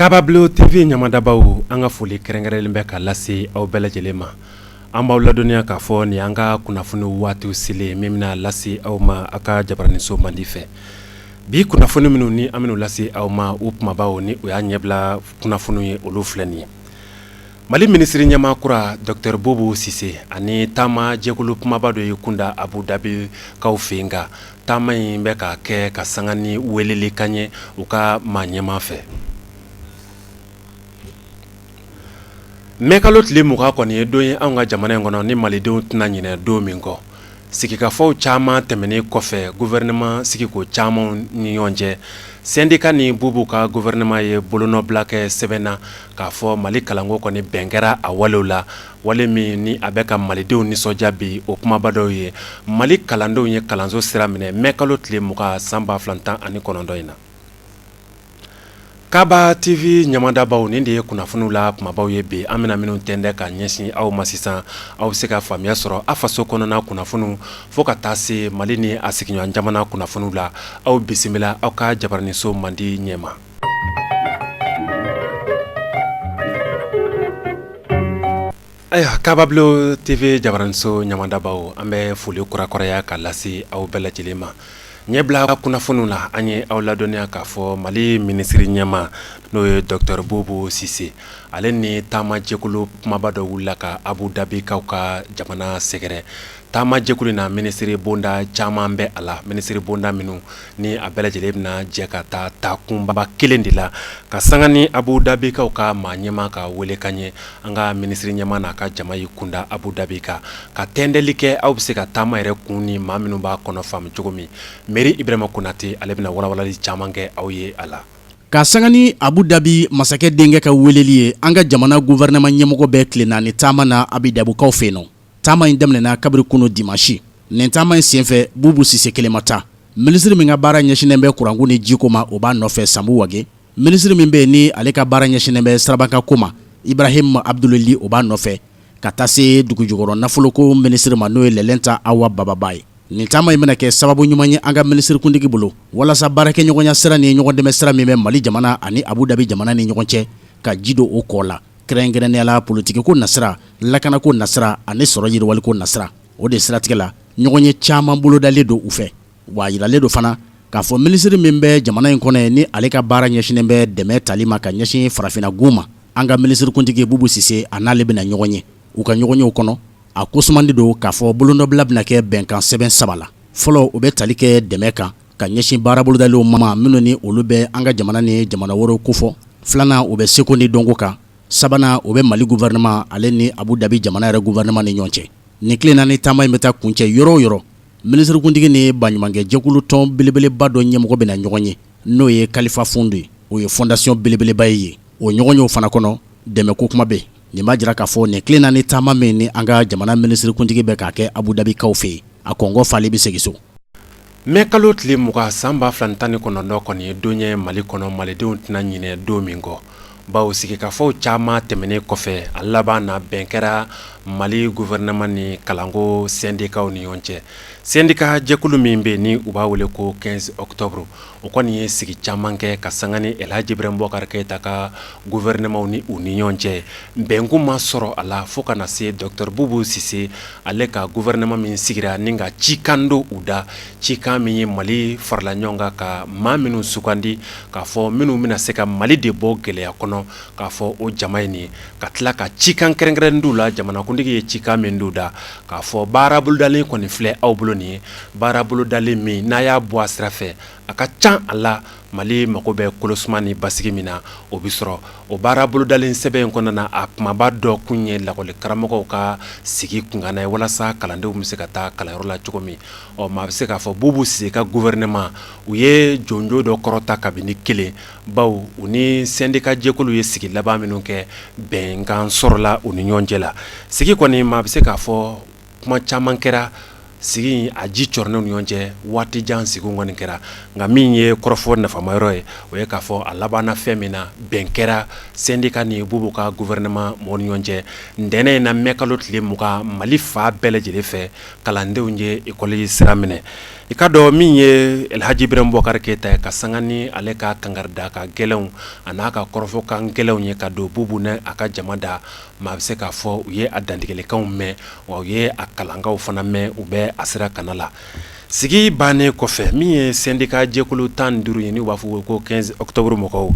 Kabablon TV ɲamadabaw an ka foli kɛrɛnkɛrɛnlen bɛ ka lase aw bɛɛ lajɛlen ma an b'aw ladɔnniya k'a fɔ nin an ka kunnafoni waati selen min bɛna lase aw ma aw ka jabaraninso mandi fɛ bi kunnafoni minnu ni an bɛn'u lase aw ma u kumabaw ni o y'a ɲɛbila kunnafoni ye olu filɛ nin ye Mali minisiri ɲɛmaa kura dɔkitɔri Bubu Sise ani taama jɛkulu kumaba dɔ y'i kunda Abu Dabikaw fɛ yen nka taama in bɛ ka kɛ ka sanga ni welekan ye u ka maa ɲɛmaa fɛ mɛ kalo tile 20 kɔni ye don ye an ka jamana in kɔnɔ ni malidenw tɛna ɲinɛ don min kɔ sigikafɔw caman tɛmɛnen kɔfɛ gouvernement sigiko caman ni ɲɔgɔn cɛ sɛndika ni Bubu ka gouvernement ye bolonɔbila kɛ sɛbɛn na k'a fɔ mali kalanko kɔni bɛn kɛra a walew la wale min ni a bɛ ka malidenw nisɔndiya bi o kumaba dɔw ye mali kalandenw ye kalanso sira minɛ mɛ kalo tile 20 san ba fila tan ani kɔnɔntɔn in na Kabablon TV ɲamadabaw nin de ye kunnafoniw la kumabaw ye bi an bɛna minnu tɛndɛ ka ɲɛsin aw ma sisan aw bɛ se ka faamuya sɔrɔ a faso kɔnɔna kunnafoniw fo ka taa se mali ni a sigiɲɔgɔn jamana kunnafoniw la aw bisimila aw ka jabaraninso mandi ɲɛ ma Ayiwa Kabablon TV jabaraninso ɲamadabaw an bɛ foli kurakuraya ka lase aw bɛɛ lajɛlen ma ɲɛbila kunnafoni la an ye aw ladɔnniya k'a fɔ mali minisiri ɲɛmaa n'o ye dɔkutɔri Bubu Sise ale ni taamajɛkulu kumaba dɔ wulila ka Abu Dabikaw ka jamana sɛgɛrɛ Taamajɛkulu in na minisiri bonda caman bɛ a la minisiri bonda minnu ni a bɛɛ lajɛlen bɛna jɛ ka taa taakunba kelen de la ka sanga ni Abu Dabikaw ka maa ɲɛmaa ka welekan ye an ka minisiri ɲɛmaa n'a ka jama y'i kunda Abu Dabi kan ka tɛndɛli kɛ aw bɛ se ka taama yɛrɛ kun ni maa minnu b'a kɔnɔ faamu cogo min Mari Ibrahima Konate ale bɛna walawalali caman kɛ aw ye a la Ka sanga ni Abu Dabi masakɛ denkɛ ka weeleli ye, an ka jamana gouvernement ɲɛmɔgɔ bɛ tile naani taama na Abu Dabikaw fɛ yen nɔ. taama in daminɛna kabiri kunun dimanche nin taama in senfɛ Bubu Sise kelen ma taa minisiri min ka baara ɲɛsinnen bɛ kuranko ni jiko ma o b'a nɔfɛ Sanbu Wage minisiri min bɛ yen ni ale ka baara ɲɛsinnen bɛ sirabakanko ma Ibrahim Abdul Li o b'a nɔfɛ ka taa se dugujukɔrɔ nafoloko minisiri ma n'o ye Lɛlɛnta Awa Baba Ba ye nin taama in bɛna kɛ sababu ɲuman ye an ka minisirikuntigi bolo walasa baarakɛɲɔgɔnya sira ni ɲɔgɔndɛmɛn sira min bɛ Mali jamana ani Abu Dabi jamana ni ɲɔgɔn cɛ ka ji don o kɔɔ la Kɛrɛnkɛrɛnnenya la politiki ko nasira lakana ko nasira ani sɔrɔ yiriwali ko nasira o de siratigɛ la ɲɔgɔnye caman bolodalen don u fɛ wa a jiralen don fana k'a fɔ minisiri min bɛ jamana in kɔnɔ yen ni ale ka baara ɲɛsinnen bɛ dɛmɛ tali ma ka ɲɛsin farafinna gun ma an ka minisirikuntigi bubu sise a n'ale bɛna ɲɔgɔn ye u ka ɲɔgɔnye o kɔnɔ a ko sumannen don k'a fɔ bolonɔbila bɛna kɛ bɛnkansɛbɛn saba la fɔlɔ o bɛ tali kɛ dɛmɛ kan ka ɲɛsin baara bolodalenw ma minnu ni olu bɛ an ka jamana ni jamana wɛrɛw kofɔ filanan o bɛ seko ni dɔnko kan sabanan o bɛ mali guwɛrɛnɛma ale ni abu dabi jamana yɛrɛ guwɛrɛnɛma ni ɲɔgɔn cɛ nin tile naani taama in bɛ taa kuncɛ yɔrɔ o yɔrɔ minisirikuntigi ni baɲumankɛjɛkulu tɔn belebeleba dɔ ɲɛmɔgɔ bɛna ɲɔgɔn ye n'o ye kalifa fund ye o ye fɔndasiyɔn belebeleba ye yen o ɲɔgɔnye o fana kɔnɔ dɛmɛ ko kuma bɛ nin b'a jira k'a fɔ nin tile naani taama min ni an ka jamana minisirikuntigi bɛ k'a kɛ Abu Dhabi kaw fɛ yen, a kɔnkɔ falen bɛ segin so. Mai kalo tile mugan san ba fila ni tan ni kɔnɔntɔn kɔni ye don ye Mali kɔnɔ, malidenw tɛna ɲinɛ don min kɔ, bawo sigikafɔw caman tɛmɛnen kɔfɛ, a laban na bɛn kɛra Mali gouvernement ni kalanko sɛndikaw ni ɲɔgɔn cɛ, sɛndika jɛkulu min bɛ yen ni u b'a wele ko 15 octobre. o kɔni ye sigi caman kɛ ka sanga ni alihaji ibrahim bubakari keyita ka guwɛrɛnɛmaw ni u ni ɲɔgɔn cɛ bɛnkun ma sɔrɔ a la fo ka na se dɔgɔtɔrɔ bubu sise ale ka guwɛrɛnɛma min sigira ni ka cikan don u da cikan min ye mali faralen ɲɔgɔn kan ka maa minnu sugandi k'a fɔ minnu bɛna se ka mali de bɔ gɛlɛya kɔnɔ k'a fɔ o jama in ni ka tila ka cikan kɛrɛnkɛrɛn don u la jamanakuntigi ye cikan min don u da k'a fɔ baara bolodalen kɔni filɛ aw bolo nin ye baara bolodalen min n'a y'a bɔ a sira fɛ a ka ca a la mali mago bɛ kolosuma ni basigi min na o bɛ sɔrɔ o baara bolodalen sɛbɛn in kɔnɔna na a kumaba dɔ kun ye lakɔli karamɔgɔw ka sigi kunkan ye walasa kalandenw bɛ se ka taa kalanyɔrɔ la cogo min ɔ maa bɛ se k'a fɔ bubu sise ka guwɛrɛnɛma u ye jɔnjɔn dɔ kɔrɔta kabini kelen bawo u ni sɛndika jɛkulu ye sigi laban minnu kɛ bɛnkan sɔrɔla u ni ɲɔgɔn cɛ la sigi kɔni maa bɛ se k'a fɔ kuma caman kɛra sigi a ji c ni ɲɔgɔn cɛ waati jan sigiw kɔni kɛra nka min ye kɔrɔfɔ nafama yɔrɔ ye o ye k'a fɔ a labanna fɛn min na bɛn kɛra sɛndika ni bubu ka guwɛrɛnɛma mɔgɔw ni ɲɔgɔn cɛ ntɛnɛn in na mɛ kalo tile mugan mali fan bɛɛ lajɛlen fɛ kalandenw ye ekɔli sira minɛ i k'a dɔn min ye alhaji ibrahim bubakari keyita ka sanga ni ale ka kankaridakan gɛlɛnw ani a ka kɔrɔfɔkan gɛlɛnw ye k'a don bubu n'a ka jama da maa bɛ se k'a fɔ u ye a dantigɛlikanw mɛn wa u ye a kalankanw fana mɛn u bɛ a sira kan a la sigi bannen kɔfɛ min ye sɛndika jɛkulu tan duuru ye ni u b'a fɔ ko 15 octobre mɔgɔw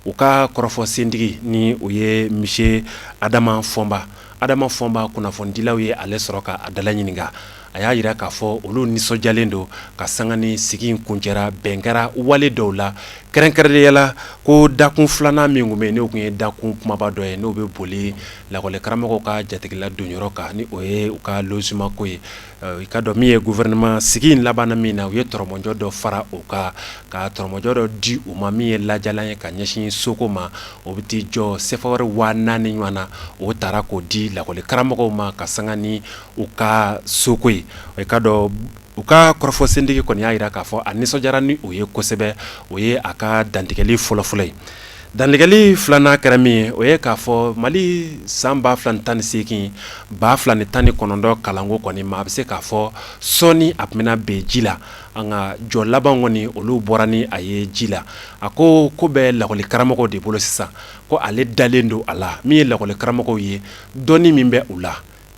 u ka kɔrɔfɔ sentigi n'o ye misiye adama fɔnba adama fɔnba kunnafonidilaw ye ale sɔrɔ k'a dalaɲininka a y'a jira k'a fɔ olu nisɔndiyalen don ka sanga ni sigi in kuncɛra bɛn kɛra wale dɔw la kɛrɛnkɛrɛnnenya la ko dakun filanan min tun bɛ yen n'o tun ye dakun kumaba dɔ ye n'o bɛ boli lakɔli karamɔgɔw ka jatigila don yɔrɔ kan ni o ye u ka simako ye i k'a dɔn min ye gouvernement sigi in laban min na u ye tɔrɔmɔjɔ dɔ fara u ka ka tɔrɔmɔjɔ dɔ di u ma min ye lajɛlan ye ka ɲɛsin soko ma o bɛ t'i jɔ sefa wari waa naani ɲɔgɔn na o tara k'o di lakɔli karamɔgɔ ma ka sanga ni u ka soko ye o k'a dɔn u ka kɔrɔfɔ sentigi kɔni y'a jira k'a fɔ a nisɔndi ni o ye kosɛbɛ o ye a ka dantigɛli fɔlɔfɔlɔ ye dantigɛli filanan kɛra min ye o ye k'a fɔ mali san ba fila tan ni segin ba fila ni tan ni kɔnɔntɔn kalanko kɔni maa bɛ se k'a fɔ sɔɔni a tun bɛ bin ji la an ka jɔ laban kɔni olu bɔra ni a ye ji la a ko ko bɛ lakɔli karamɔgɔ de bolo sisan ko ale dalen don a la min ye lakɔli karamɔgɔ ye dɔn min bɛ u la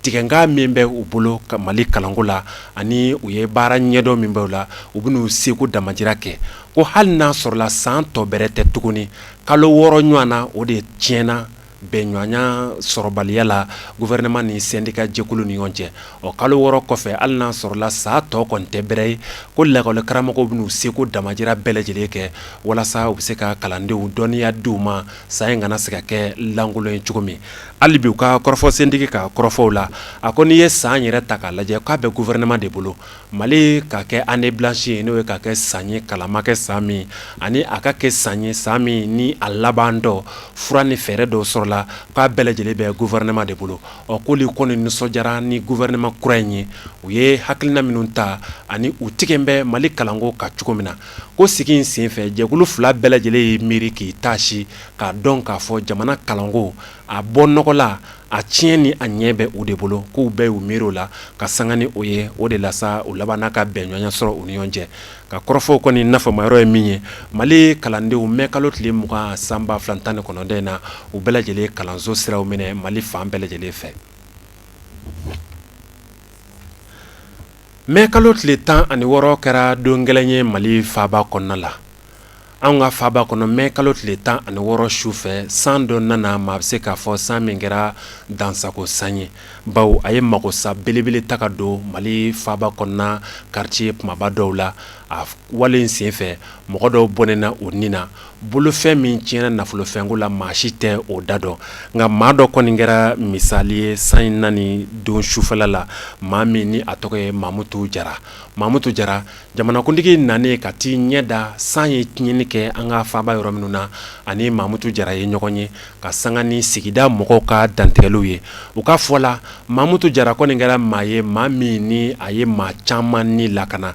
tigɛkan min bɛ u bolo mali kalanko la ani u ye baara ɲɛdɔn min b'o la u bɛ n'u seko damajira kɛ ko hali n'a sɔrɔla san tɔ bɛrɛ tɛ tuguni kalo wɔɔrɔ ɲɔgɔn na o de tiɲɛna bɛn ɲɔgɔnya sɔrɔbaliya la gouvernement ni syndicat jɛkulu ni ɲɔgɔn cɛ o kalo wɔɔrɔ kɔfɛ hali n'a sɔrɔla san tɔ kɔni tɛ bɛrɛ ye ko lakɔlikaramɔgɔw bɛ n'u seko damajira bɛɛ lajɛlen kɛ walasa u bɛ se ka kalandenw dɔnniya di u ma san in kana se ka kɛ lankolon ye cogo min hali bi u ka kɔrɔfɔ sentigi ka kɔrɔfɔw la a ko n'i ye san yɛrɛ ta k'a lajɛ k'a bɛ gouvernement de bolo Mali ka kɛ année blanche ye n'o ye ka kɛ san ye kalan ma kɛ san min ani a ka kɛ san ye san min ni a laban don fura ni fɛɛrɛ dɔw sɔrɔla k'a bɛɛ lajɛlen bɛ gouvernement de bolo ɔ k'olu kɔni nisɔndiyara ni gouvernement kura in ye u ye hakilina minnu ta ani u tigɛ bɛ Mali kalanko kan cogo min na ko sigi in senfɛ jɛkulu fila bɛɛ lajɛlen y'i miiri k'i taasi k'a dɔn k'a fɔ jamana kalanko a bɔ nɔgɔ la a tiɲɛ ni a ɲɛ bɛ u de bolo k'u bɛɛ y'u miiri o la ka sanga ni o ye o de la sa u labanna ka bɛnɲɔgɔnya sɔrɔ u ni ɲɔgɔn cɛ ka kɔrɔfɔw kɔni nafamayɔrɔ ye min ye mali kalandenw mɛ kalo tile mugan san ba fila tan ni kɔnɔntɔn in na u bɛɛ lajɛlen kalanso sira minɛ mali fan bɛɛ lajɛlen fɛ mɛ kalo tile tan ani wɔɔrɔ kɛra don gɛlɛn ye mali faba kɔnɔna la An ka faba kɔnɔ mɛ kalo tile tan ani wɔɔrɔ su fɛ san dɔ nana maa bɛ se k'a fɔ san min kɛra dansagon san ye bawo a ye magosa belebele ta ka don mali faba kɔnɔna quartier kumaba dɔw la a wale in senfɛ mɔgɔ dɔw bɔnɛna u ni na bolofɛn min tiɲɛna nafolofɛnko la maa si tɛ o da dɔn nka maa dɔ kɔni kɛra misali ye san in nani don sufɛ la maa min ni a tɔgɔ ye mamutu jara mamutu jara Jamanakuntigi nanen ka t'i ɲɛ da san ye tiɲɛni kɛ an ka faaba yɔrɔ minnu na ani mamutu jara ye ɲɔgɔn ye ka sanga ni sigida mɔgɔw ka dantigɛliw ye u ka fɔ la mamutu jara kɔni kɛra maa ye maa min ni a ye maa caman ni lakana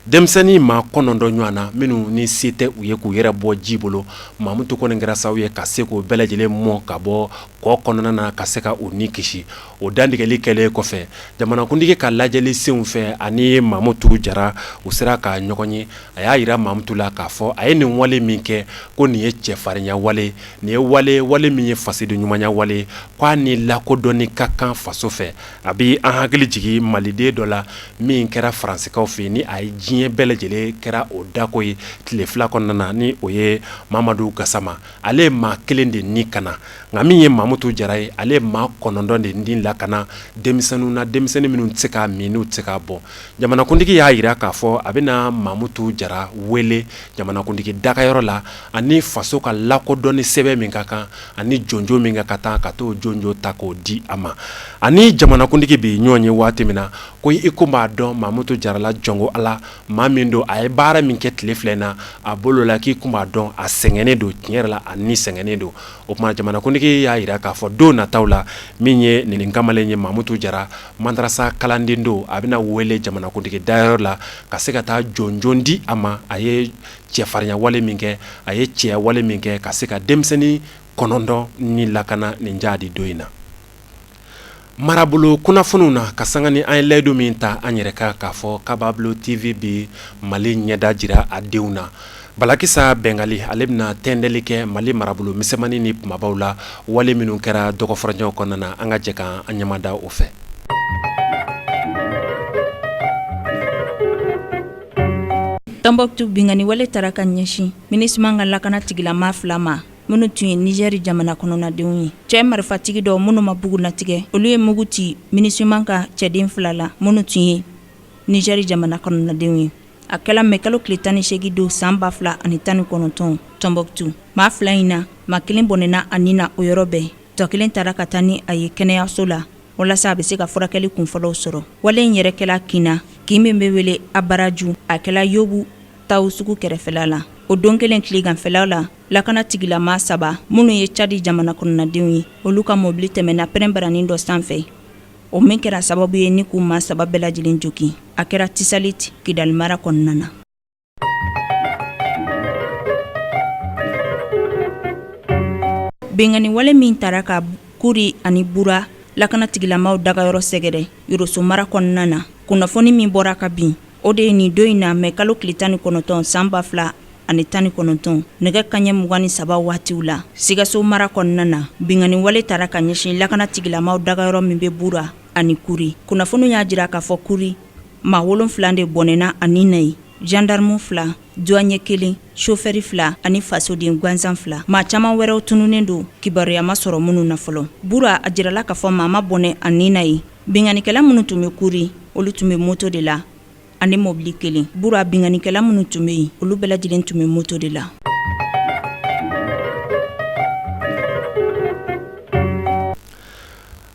denmisɛnnin maa kɔnɔntɔn ɲɔgɔnna minnu ni se tɛ u ye k'u yɛrɛ bɔ ji bolo mamutu kɔni kɛra sababu ye ka se k'u bɛɛ lajɛlen mɔ ka bɔ kɔ kɔnɔna na ka se ka u ni kisi o dantigɛli kɛlen kɔfɛ jamanakuntigi ka lajɛli sen fɛ ani mamutu jara u sera ka ɲɔgɔn ye a y'a jira mamutu la k'a fɔ a ye nin wale min kɛ ko nin ye cɛfarinya wale nin ye wale wale min ye fasoden ɲumanya wale k'a ni lakodɔnni ka kan faso fɛ a bɛ an hakili jigin maliden dɔ la min kɛra faransikaw fɛ ni a ye diɲɛ bɛɛ lajɛlen kɛra o dako ye tile fila kɔnɔna na ni o ye mamadu gasama ale ye maa kelen de ni kana nka min ye mamutu jara ye ale ye maa kɔnɔntɔn de ni lakana denmisɛnw na denmisɛnnin minnu tɛ se ka minnu tɛ se ka bɔ jamanakuntigi y'a jira k'a fɔ a bɛna mamutu jara wele jamanakuntigi dagayɔrɔ la ani faso ka lakodɔnni sɛbɛn min ka kan ani jɔnjɔn min ka kan taa ka taa jɔnjɔn ta k'o di a ma ani jamanakuntigi bɛ ɲɔgɔn ye waati min na ko i kun b'a dɔn mamutu jara la jɔn ko ala maa min don a ye baara min kɛ tile fila in na a bolo la k'i tun b'a dɔn a sɛgɛnnen don tiɲɛ yɛrɛ la a ni sɛgɛnnen don o tuma jamanakuntigi y'a jira k'a fɔ don nataw la min ye nin kamalen ye mamutu jara madarasa kalanden don a bɛna wele jamanakuntigi dagayɔrɔ la ka se ka taa jɔnjɔn di a ma a ye cɛfarinya wale min kɛ a ye cɛya wale min kɛ ka se ka denmisɛnnin kɔnɔntɔn ni lakana nin jahadi don in na marabolo kunnafoniw na ka sanga ni an ye layidu min ta an yɛrɛ kan k'a fɔ kabablon tv bɛ mali ɲɛda jira a denw na balakisa bɛngali ale bɛna tɛntɛnli kɛ mali marabolo misɛnmannin ni kunbabaw la wale minnu kɛra dɔgɔ furancɛ kɔnɔna na an ka jɛ ka an ɲɛ mada o fɛ tɔnbukutu binkanni wale taara ka ɲɛsin minusima ka lakana tigilama fila ma minnu tun ye nizɛri jamana kɔnɔnadenw ye cɛ marifatigi dɔ minnu ma bugunnatigɛ olu ye mugu ci minusima ka cɛden fila la minnu tun ye nizɛri jamana kɔnɔnadenw ye a kɛla mɛ kalo tile tan ni segin don san ba fila ani tan ni kɔnɔntɔn tɔnbukutu maa fila in na maa kelen bɔnɛna a ni na o yɔrɔ bɛɛ tɔ kelen taara ka taa ni a ye kɛnɛyaso la walasa a bɛ se ka furakɛli kunfɔlɔw sɔrɔ wale in yɛrɛ kɛla kin na kin min bɛ wele abaraju a kɛla yobu tawo sugu kɛrɛfɛla la o don kelen tileganfɛlaw la lakana tigilama saba minnu ye cadi jamana kɔnɔnadenw ye olu ka mɔbili tɛmɛna pɛrɛnbaranin dɔ sanfɛ o min kɛra sababu ye ni k'u maa saba bɛɛ lajɛlen jogin a kɛra tesalit kidali mara kɔnɔna na binkanni wale min taara ka kuri ani bura lakana tigilamaw dagayɔrɔ sɛgɛrɛ yoroso mara kɔnɔna na kunnafoni min bɔra ka bin O de ye nin don in na mɛ kalo tile tan ni kɔnɔntɔn san ba fila ani tan ni kɔnɔntɔn nɛgɛ kanɲɛ mugan ni saba waatiw la Sikaso mara kɔnɔna na binkanni wale taara ka ɲɛsin lakanatigilamaw dagayɔrɔ min bɛ Bura ani Kuri kunnafoni y'a jira k'a fɔ Kuri maa wolon wolonwula de bɔnɛna a ni na yen jandaramu fila duwanye kelen sofɛri fila ani fasoden gansan fila maa caman wɛrɛw tununnen don kibaruya ma sɔrɔ minnu na fɔlɔ Bura a jirala k'a fɔ maa ma bɔnɛ a ni na yen Binkanikɛla minnu tun bɛ Kuri olu tun bɛ moto de la ani mɔbili kelen Bura binkanikɛla minnu tun bɛ yen olu bɛɛ lajɛlen tun bɛ moto de la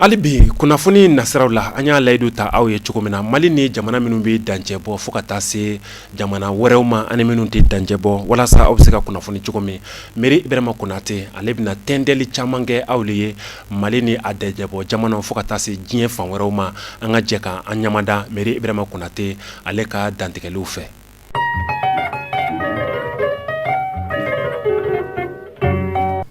hali bi kunnafoni nasiraw la an y'a layidu ta aw ye cogo min na mali ni jamana minnu bɛ dancɛ bɔ fo ka taa se jamana wɛrɛw ma ani minnu tɛ dancɛ bɔ walasa aw bɛ se ka kunnafoni cogo min Mari Ibrayima Konate ale bɛna dantigɛli caman kɛ aw de ye Mali ni a dancɛbɔ jamana fo ka taa se diɲɛ fan wɛrɛw ma an ka jɛ ka an ɲamada Mari Ibrayima Konate ale ka dantigɛliw fɛ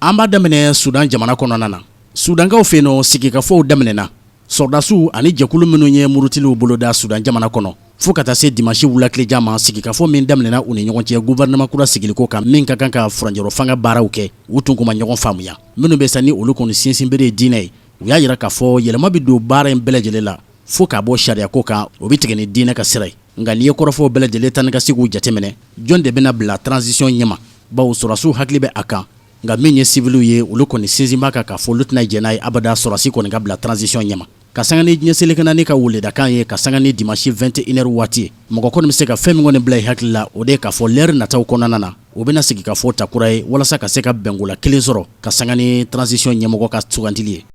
an b'a daminɛ Sudan jamana kɔnɔna na Sudankaw fɛ yen nɔ sigikafɔw daminɛna sɔrɔdasiw ani jɛkulu minnu ye murutiliw boloda Sudan jamana kɔnɔ fo ka taa se dimasi wulatileja ma sigikafɔ min daminɛna u ni ɲɔgɔn cɛ guwɛrɛnɛman kura sigili ko kan min ka kan ka furancɛrɔfanga baaraw kɛ u tun ma ɲɔgɔn faamuya minnu bɛ san ni olu kɔni sinsinbere ye diinɛ ye u y'a jira k'a fɔ yɛlɛma bɛ don baara in bɛɛ lajɛlen la fo k'a bɔ sariya ko kan o bɛ tigɛ ni diinɛ ka sira ye nka n'i ye kɔrɔfɔw bɛɛ lajɛlen taa ni ka seginw jateminɛ jɔn de bɛna bila transition ɲɛma bawo sɔrɔdasiw hakili bɛ a kan nka min ye siviliw ye olu kɔni sinsin b'a kan k'a fɔ olu tɛna jɛn n'a ye abada sɔrɔdasi kɔni ka bila transition ɲɛma Ka sanga ni diɲɛ seleke naani ka weledakan ye ka sanga ni dimanche 21 heures waati mɔgɔ kɔni bɛ se ka fɛn min kɔni bila i hakili la o de ye k'a fɔ l'heure nataw kɔnɔna na u bɛna sigikafɔ ta kura ye walasa ka se ka bɛnkola kelen sɔrɔ ka sanga ni transition ɲɛmɔgɔ ka sugantili ye.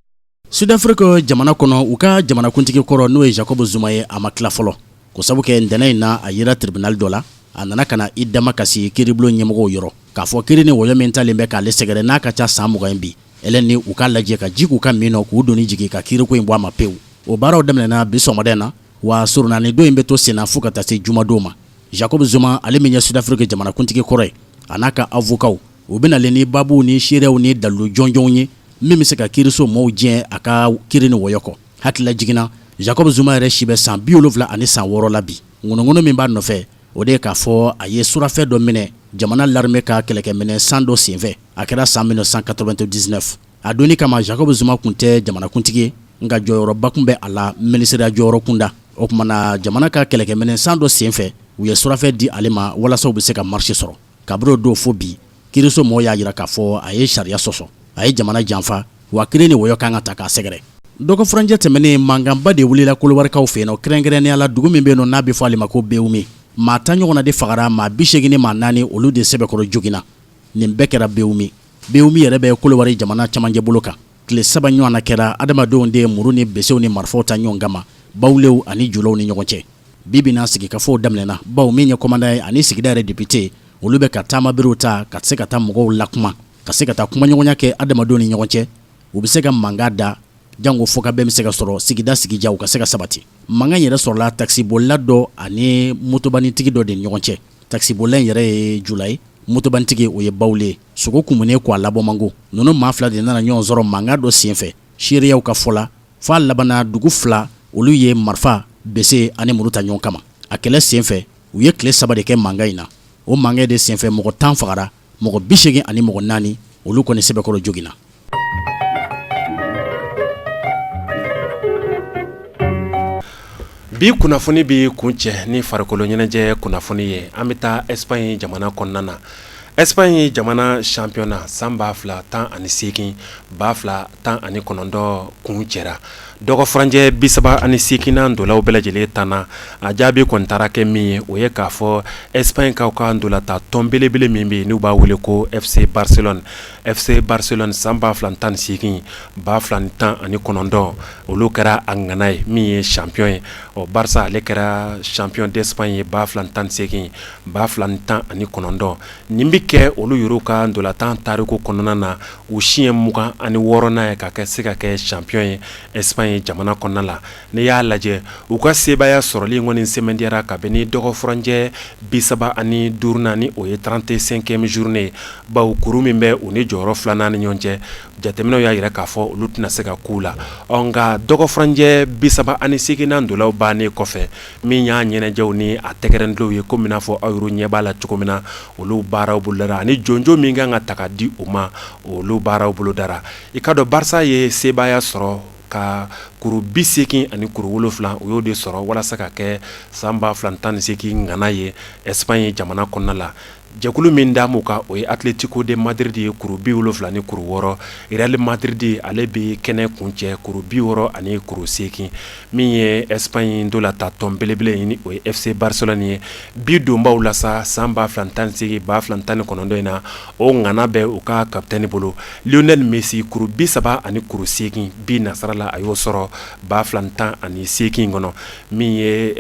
Sudafiriki jamana kɔnɔ u ka jamanakuntigi kɔrɔ n'o ye Jacob Zuma ye a ma tila fɔlɔ ko sabu kɛ ntɛnɛn in na a yera tribunal dɔ la a nana ka na i damakasi kiiribulon ɲɛmɔgɔw yɔrɔ k'a fɔ kiiri ni wɔyɔ min talen bɛ k'ale sɛgɛrɛ n'a ka ca san mugan ye bi Elɛ ni u k'a lajɛ ka ji k'u ka min na k'u doni jigin ka kiiri ko in bɔ a ma pewu o baaraw daminɛna bi sɔgɔmada in na wa surunalidon in bɛ to senna fo ka taa se jumadon ma Jacob Zuma ale min ye Sud-Afrique jamanakuntigi kɔrɔ ye a n'a ka avocats u bɛ nalen ni baabuw ni seereyaw ni dalilu jɔnjɔnw ye min bɛ se ka kiiriso maaw diɲɛ a ka kiiri ni wɔyɔ kɔ hakililajigin na Jacob Zuma yɛrɛ si bɛ san bi wolonwula ani san wɔɔrɔ la bi ŋɔnɔŋɔnɔ min b'a nɔfɛ o de ye k'a fɔ a ye surafɛn dɔ minɛ jamana larame ka kɛlɛkɛminɛn san dɔ senfɛ a kɛra san mille neuf cent quatre-vingt-dix-neuf a don kama Jacob Zuma tun tɛ jamanakuntigi nka jɔyɔrɔba tun bɛ a la minisiriya jɔyɔrɔ kunda o tuma na jamana ka kɛlɛkɛminɛn san dɔ senfɛ u ye surafɛn di ale ma walasa u bɛ se ka marché sɔrɔ kabini don fo bi kiriso mɔgɔw y'a jira k'a fɔ a ye sariya sɔsɔ a ye jamana janfa wa kɛlɛ ni wɔyɔ kan ka taa k'a sɛgɛrɛ dɔgɔfuranjɛ tɛmɛnen mankanba de wulila kolowarikaw fɛ yen nɔ kɛrɛnkɛrɛnnenya la dugu min bɛ yen nɔ n'a bɛ fɔ ale ma ko bewumi maa tan ɲɔgɔnna de fagara maa bi seegin ni maa naani olu de sɛbɛkɔrɔ joginna nin bɛɛ kɛra bewumi bewumi yɛrɛ bɛ kolowari jamana cɛmancɛ bolo kan tile saba ɲɔgɔn na kɛra adamadenw de ye muru ni besew ni marifaw ta ɲɔgɔn kama bawlew ani julaw ni ɲɔgɔn cɛ bi bi in na sigikafɔw daminɛna bawo min ye kɔmandan ye ani sigida yɛrɛ depite olu bɛ ka taamaberew ta ka se ka taa mɔgɔw lakuma ka se ka taa kumaɲɔgɔnya kɛ adamadenw ni ɲɔgɔn cɛ u bɛ se ka mankan da jango fɔkabɛn bɛ se ka sɔrɔ sigida sigiya ka se ka sabati mankan yɛrɛ sɔrɔla takisibolila dɔ ani motobanitigi dɔ de ni ɲɔgɔn cɛ takisibolila yɛrɛ ye jula ye motobanitigi o ye bawle ye sogo kunen k'a labɔ mango ninnu maa fila de nana ɲɔgɔn sɔrɔ mankan dɔ senfɛ seerew ka fɔ la fo a labanna dugu fila olu ye marifa bese ani muru ta ɲɔgɔn kama a kɛlɛ senfɛ u ye tile saba de kɛ mankan in na o mankan de senfɛ mɔgɔ tan fagara mɔgɔ bi seegin ani mɔgɔ naani olu kɔni sɛbɛkɔrɔ joginna Bi kunnafoni bɛ kuncɛ ni farikolo ɲɛnajɛ kunnafoni ye an bɛ taa Espagne jamana kɔnɔna na Espagne jamana championnat san ba fila tan ani seegin ba fila tan ani kɔnɔntɔn kuncɛra dɔgɔfuranjɛ bi saba ani seeginnan ntolaw bɛɛ lajɛlen tanna a jaabi kɔni taara kɛ min ye o ye k'a fɔ Espagnekaw ka ntolatan tɔn belebele min bɛ yen n'u b'a wele ko FC Barcelone FC Barcelone san 2018 2019 olu kɛra a ŋana ye min ye champion ye ɔ Barça ale kɛra champion d'Espagne ye 2018 2019 nin bɛ kɛ olu yɛrɛw ka ntolatan tariku kɔnɔna na u siɲɛ 26nan ye ka se ka kɛ champion ye Espagne jamana kɔnɔna la. N'i y'a lajɛ u ka sebaaya sɔrɔlen in kɔni sɛmɛntiyara kabini dɔgɔfuranjɛ bi saba ani duurunan in o ye trente-cinquième journée ye bawo kuru min bɛ u ni jɔyɔrɔ filanan ni ɲɔgɔn cɛ jateminɛw y'a jira k'a fɔ olu tɛna se ka kun u la ɔ nka dɔgɔfuranjɛ bi saba ani seginnan ntolaw bannen kɔfɛ min y'a ɲɛnajɛw ni a tɛgɛrɛ tulonw ye komi n'a fɔ aw yɛrɛ ɲɛ b'a la cogo min na olu baaraw bolodara ani jɔnjɔn min kan ka taga di u ma olu baaraw bolodara i k'a dɔn Barça ye sebaaya sɔrɔ ka kuru bi segin ani kuru wolofila u y'o de sɔrɔ walasa ka kɛ san ba fila tan ni segin ŋana ye Espagne jamana kɔnɔna la jɛkulu min dalen b'u kan o ye Atlético de Madrid ye kuru bi wolofila ni kuru wɔɔrɔ Real Madrid ale bɛ kɛnɛ kuncɛ kuru bi wɔɔrɔ ani kuru segin min ye Espagne ntolatan tɔn belebele ye ni o ye FC Barcelone ye bi donbaw la san ba fila tan ni segin ba fila tan ni kɔnɔntɔn in na o ŋana bɛ u ka kapitɛni bolo lionel messi kuru bi saba ani kuru segin bi nasarala a y'o sɔrɔ ba fila tan ani segin in kɔnɔ min ye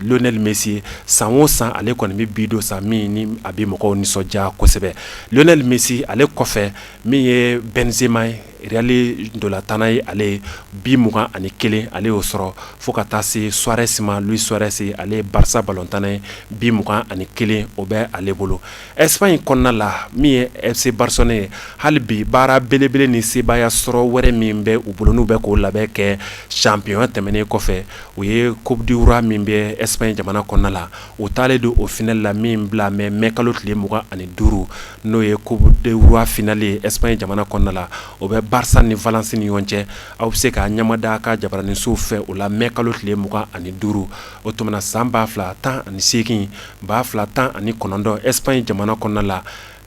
lionel messi ye san o san ale kɔni bɛ bi don san min a bɛ mɔgɔw nisɔndiya kosɛbɛ lionel messi ale kɔfɛ min ye benzema real ntolatan ye ale ye bi mugan ani kelen ale y'o sɔrɔ fo ka taa se suarez ma luis suarez ale ye barsa balontan ye bi mugan ani kelen o bɛ ale bolo Espagne kɔnɔna la min ye fc barcelone ye hali bi baara belebele ni sebaaya sɔrɔ wɛrɛ min bɛ u bolo n'u bɛ k'o labɛn kɛ sanpiyɔna tɛmɛnen kɔfɛ o ye coupe du roi min bɛ espagne jamana kɔnɔna la u taalen don o finale la min bila mɛ mɛ kalo tile mugan ani duuru n'o ye coupe du roi finale ye espagne jamana kɔnɔna la o bɛ barsa ni valence ni ɲɔgɔn cɛ aw bɛ se ka ɲɛmada a ka jabaraninso fɛ o la mɛ kalo tile mugan ani duuru o tuma na san ba fila tan ani seegin ba fila tan ani kɔnɔntɔn espagne jamana kɔnɔna la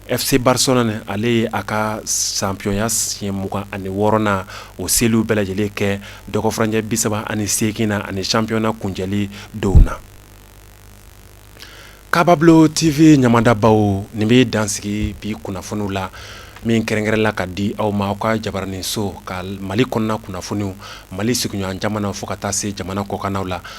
fc barcelone ale ye a ka sanpiyɔnya siɲɛ mugan ani wɔɔrɔnan o seliw bɛɛ lajɛlen kɛ dɔgɔfurancɛ bi saba ani segin na ani sanpiyɔna kuncɛli don na kababubilo tv ɲɛmadabaa nin bɛ dan sigi bi kunnafoniw la min kɛrɛnkɛrɛnna ka di aw ma aw ka jabaraninso ka mali kɔnɔna kunnafoniw mali sigiɲɔgɔn jamana fo ka taa se jamana kɔkanw la